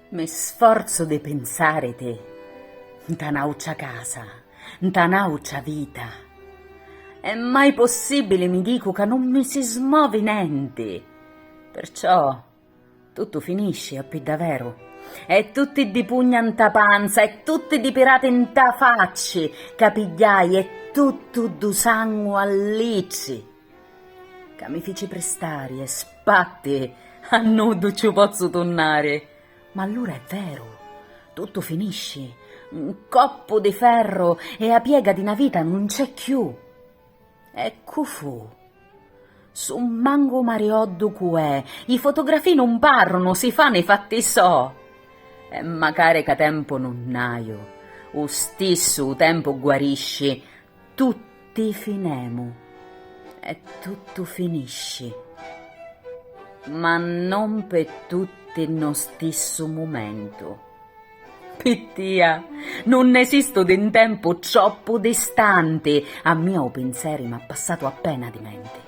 Me sforzu di pinsariti 'nta n'àutra casa, 'nta n'àutra vita. È mai possibbili, mi dicu, ca nun mi si smovi nenti? Perciò tuttu finisci, a piddaveru, e tutti ddi pugna 'nta panza e tutti ddi pirati 'nta facci ca pigghiai e tuttu ddu sangu a litri! Ca mi fici pristari e spatti a nuddu ciù pozzu tunnari. Ma allura è veru, tuttu finisci, un coppu di ferru e 'a piega di 'na vita nun c'è cchiù. E cu fu? Su' mangu marioddu cu è, i fotografii nun parrunu, si fanu i fatti so'. E macari ca tempu nun haiu, u stissu u tempu guarisci, Tutti finemu e tuttu finisci, ma non pe tutti nno stissu mumentu. Pi tia nun esistu di 'n tempu troppu distanti, a mia u pinseri m'ha passatu appena di menti.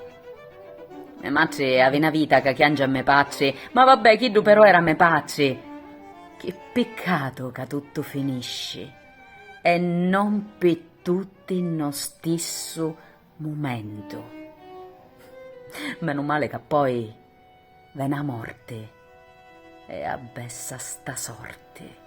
Me matri avi 'na vita ca chiangi a me patri, ma vabbè chiddu però era me patri, chi piccatu ca tuttu finisci. e non pi tutti no stissu mumentu. Menu male ca poi veni a morti e abbessa sta sorti.